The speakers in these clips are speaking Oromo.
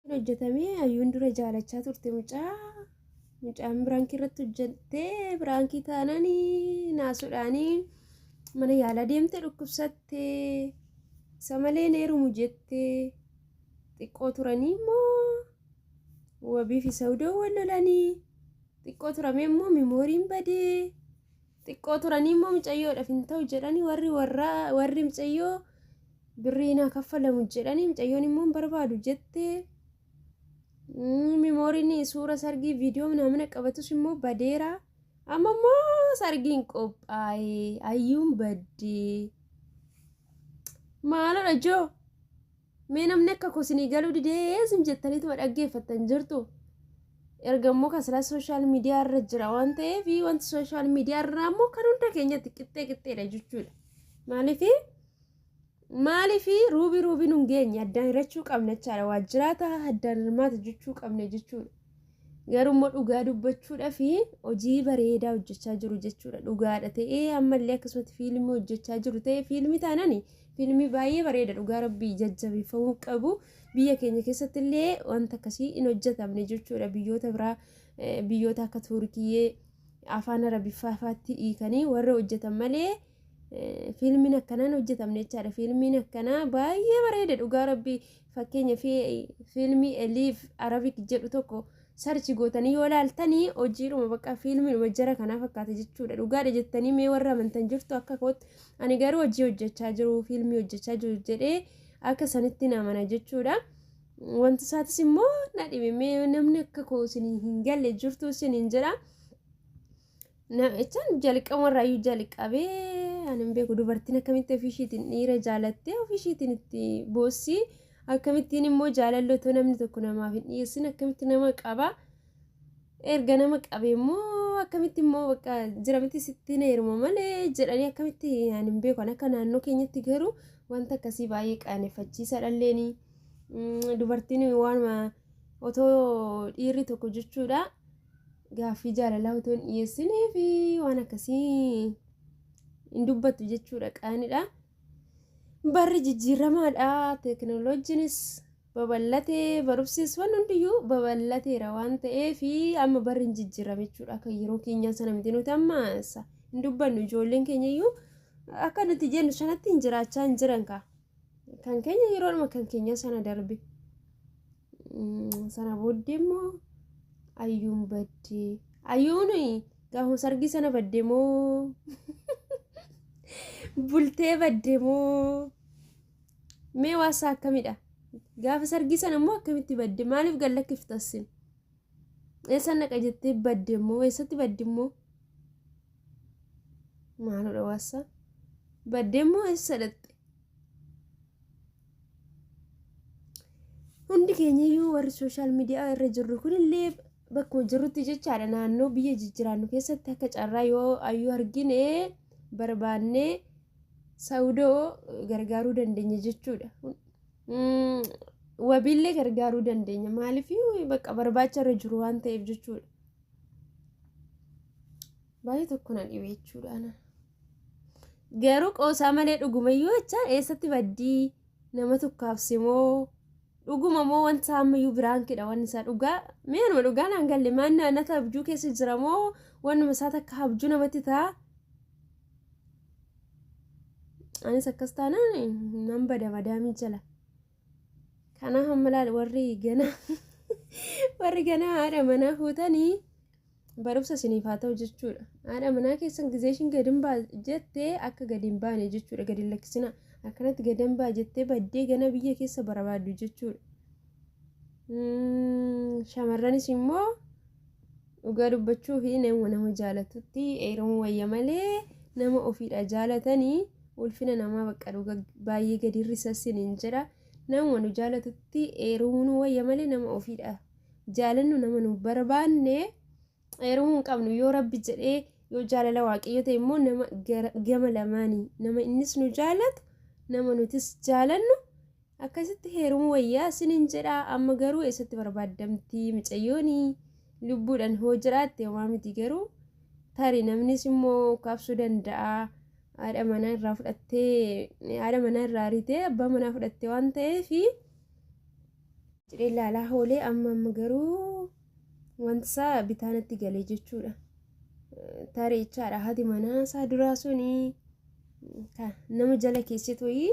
hojjetamee ayyuun dura jaalachaa turte mucaa mucaan biraankii irratti hojjettee biraankii taanaan naasuudhaanii mana yaalaa deemte dhukkubsatte isa malee neerumu jette xiqqoo turanii immoo wabiif isa hudoo wal lolanii xiqqoo turamee immoo mimooriin badee xiqqoo turanii immoo micayyoodhaaf hin ta'u jedhanii warri warraa warri micayyoo birrii naa kaffalamu jedhanii micayyoon immoo hin barbaadu jettee mm, mimooriin suura sargii viidiyoo namna qabatus immoo badeera amma immoo sargiin qophaa'e ayyuun baddee maalodha joo Mee namni akka koo sinii galuu didee sin jettaniituma dhaggeeffattan jirtu. Erga immoo kan silaa sooshaal miidiyaa irra jira waan ta'eef wanti sooshaal miidiyaa irraa immoo kan hunda keenyatti qixxee qixxeedha jechuudha. Maaliif maaliif ruubii ruubii nun geenye addaan hirachuu qabna jechaadha. Waajjiraata addaan hirmaata jechuu qabna jechuudha. Garuu immoo dhugaa dubbachuudhaa fi hojii bareedaa hojjechaa jiru jechuudha. Dhugaadha ta'ee ammallee akkasumatti fiilmii hojjechaa jiru ta'ee fiilmii taanani fiilmii baay'ee bareeda dhugaa rabbii jajjabeeffamuu qabu. Biyya keenya keessatti illee wanta akkasii hin hojjetamne jechuudha. Biyyoota biraa eh, biyyoota akka Tuurkiyyee afaan Arabiffaa faatti hiikanii warra hojjetan malee eh, fiilmiin akkanaan hojjetamne jechaadha. Fiilmiin akkanaa baay'ee bareeda dhugaa rabbii Fakkeenya fi fiilmii Eliif Arabik jedhu tokko sarchi gootanii yoo laaltanii hojiidhuma bakka fiilmiidhuma jara kanaa fakkaata jechuudha. Dhugaadha jettanii mee warra amantan jirtu akka kootti ani garuu hojii hojjechaa jiru fiilmii hojjechaa jiru jedhee akka sanitti namana jechuudha. Wanti isaatis immoo na dhibe mee namni akka koo isin hin galle jirtu isin hin jedha. Namichaan jalqamarraayyuu jalqabee ani hin beeku dubartiin akkamitti ofiishiitiin dhiira jaalattee ofiishiitiin itti boossii akkamittiin immoo jaalalli otoo namni tokko namaaf hin dhiyeessin akkamitti nama qaba erga nama qabe immoo akkamitti immoo bakka jiramitti sitti na heeruma malee jedhanii akkamitti ani hin beeku akka naannoo keenyatti garuu wanta akkasii baay'ee qaaneffachiisa dhalleeni dubartiin waanuma otoo dhiirri tokko jechuudha. Gaaffii jaalalaa utuu hin dhiyeessinee fi waan akkasii hin dubbattu jechuudha qaanidha. Barri jijjiiramaadha. Teekinooloojiinis babal'atee barumsis waan hundiyyuu babal'ateera waan ta'eef amma barri hin jijjiirame jechuudha. Akka yeroo keenyaa sana miti nuti amma sa- hin dubbannu ijoolleen keenya iyyuu akka nuti jennu sanatti hin jiraachaa hin jiran kaa. Kan keenya yeroodhuma kan keenya sana darbe. Sana booddee immoo ayyuun baddee. Ayyuun gaafuma sargii sana baddee moo bultee baddee moo mee waasaa akkamidha? Gaafa sargii sana immoo akkamitti badde? Maaliif gallakkiftassin? Eessa naqa jettee badde immoo eessatti baddi immoo maaludha waassa badde immoo eessa dhatte hundi keenyayyuu warri sooshaal miidiyaa irra jirru kunillee bakkuma jirrutti jechaadha naannoo biyya jijjiraannu keessatti akka carraa yoo ayyuu argine barbaannee saudoo gargaaruu dandeenya jechuudha Mm, wabiillee gargaaruu dandeenya maaliif bakka barbaacha irra jiru waan ta'eef jechuudha baay'ee tokko na dhibe jechuudha ana garuu qoosaa malee dhugumayyuu jecha eessatti baddii nama tokkaafse moo dhuguma moo wanti isaa ammayyuu biraankidha wanni isaa dhugaa mee anuma dhugaa naan galle maan naannata abjuu keessa jira moo wannuma isaa takka abjuu namatti ta'a anis akkas taanaan nan bada madaamii jala kanaa hamma laal warri ganaa warri ganaa haadha manaa fuutanii barumsa isiniif haa ta'u jechuudha haadha manaa keessan gizee ishiin gadi hin baa jettee akka gadi hin baane jechuudha gadi hin lakkisina akkanatti gadi hin baa jettee baddee gana biyya keessa barbaaddu jechuudha shamarranis immoo Dhugaa dubbachuuf nama nama jaalatutti eeruun wayya malee nama ofiidha jaalatanii ulfina namaa bakka dhuga baay'ee gadi hir'isassin hin jira. Nama nu jaalatutti eeruun wayya malee nama ofiidha jaalannu nama nu barbaanne eerumuu hin qabnu yoo rabbi jedhee yoo jaalala waaqayyo ta'e immoo nama gama lamaanii nama innis nu jaalatu nama nutis jaalannu Akkasitti heerumu wayyaa sinin jedha amma garuu eessatti barbaaddamti micayyooni lubbuudhan hoo jiraatte homaa miti garuu tari namnis immoo kaabsuu danda'a haadha manaa irraa fudhattee haadha manaa irraa aritee abbaa manaa fudhattee waan ta'eef jedhee laalaa hoolee amma amma garuu wantisaa bitaanatti galee jechuudha tarii jechaadha haati manaa isaa duraa suni nama jala keesseet wayii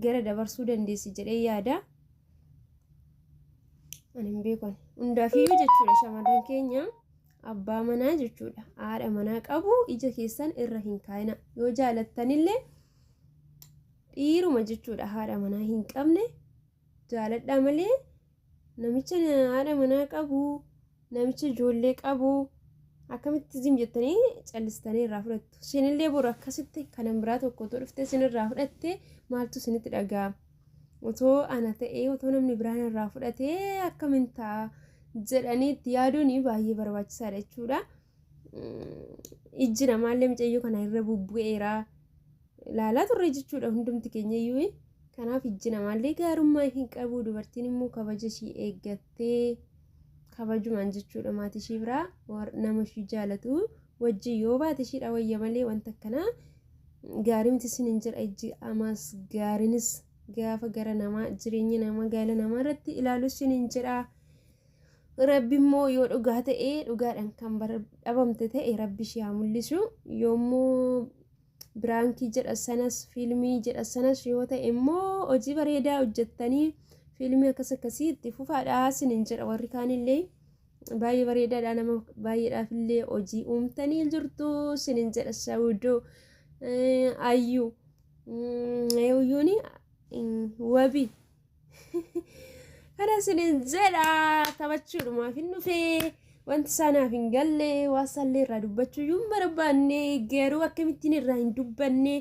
gara dabarsuu dandeessi jedhee yaada. Ani hin beekan. Hundaafiyyuu jechuudha shamarran keenya abbaa manaa jechuudha haadha manaa qabu ija keessan irra hin kaayina yoo jaalattanillee dhiiruma jechuudha haadha manaa hin qabne jaaladhaa malee Namicha haadha manaa qabu, namicha ijoollee qabu akkamitti zim jettanii callistanii irraa fudhattu. Isinillee boru akkasitti kanan biraa tokko otoo dhuftee isinirraa fudhattee maaltu isinitti dhaga'ama. Otoo ana ta'ee otoo namni biraan irraa fudhatee akkamiin ta'a jedhanii itti yaaduun baay'ee barbaachisaadha jechuudha. Ijji namaallee micayyoo kana irra bubbu'eera. ilaalaa turre jechuudha hundumti keenya iyyuu kanaaf ijji namaallee gaarummaa hin qabu dubartiin immoo kabaja ishii eeggattee kabajumaan jechuudha maatii ishii biraa nama ishii jaalatu wajjin yoo baate ishiidha wayya malee wanta akkanaa gaarii miti isin hin jedha ijji amaas gaariinis gaafa gara namaa jireenya namaa gaala namaa irratti ilaalu isin hin jedha. Rabbi immoo yoo dhugaa ta'e dhugaadhaan kan dhabamte ta'e rabbi ishee haa mul'isu yoommoo biraankii jedha sanas fiilmii jedha sanas yoo ta'e immoo hojii bareedaa hojjettanii fiilmii akkas akkasii itti fufaadhaa sinin jedha warri kaanillee baay'ee bareedaadha nama baay'eedhaaf illee hojii uumtanii jirtu sinin jedha sawudoo ayyuu ayyuuni wabii Kana isiniin jedha taphachuudhumaaf hin dhufee wanti isaanaaf hin galle waan isaallee irraa dubbachuu iyyuu hin barbaanne garuu akkamittiin irraa hin dubbanne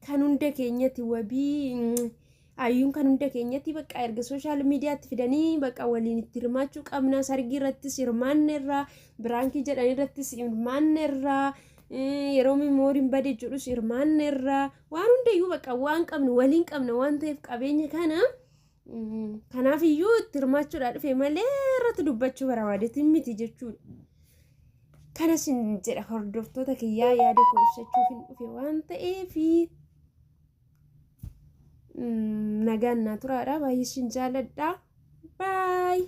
kan hunda keenyatti wabii mm, ayyuun kan hunda keenyatti bakka erga sooshaal miidiyaatti fidanii bakka waliin itti hirmaachuu qabna sargii irrattis hirmaanne irraa biraankii jedhan irrattis hirmaanne irraa eh, yeroo mimooriin bade jedhus hirmaanne irraa Waan hundayyuu bakka waan qabnu waliin qabna waan ta'eef qabeenya kana kanaaf iyyuu itti hirmaachuudhaa dhufe malee irratti dubbachuu barabaadeetiin miti jechuudha. Kanas hin jedha hordoftoota kiyyaa yaada koo ibsachuuf hin dhufe waan ta'eef nagaan naa turaadha baay'ee sin jaaladha baay'ee.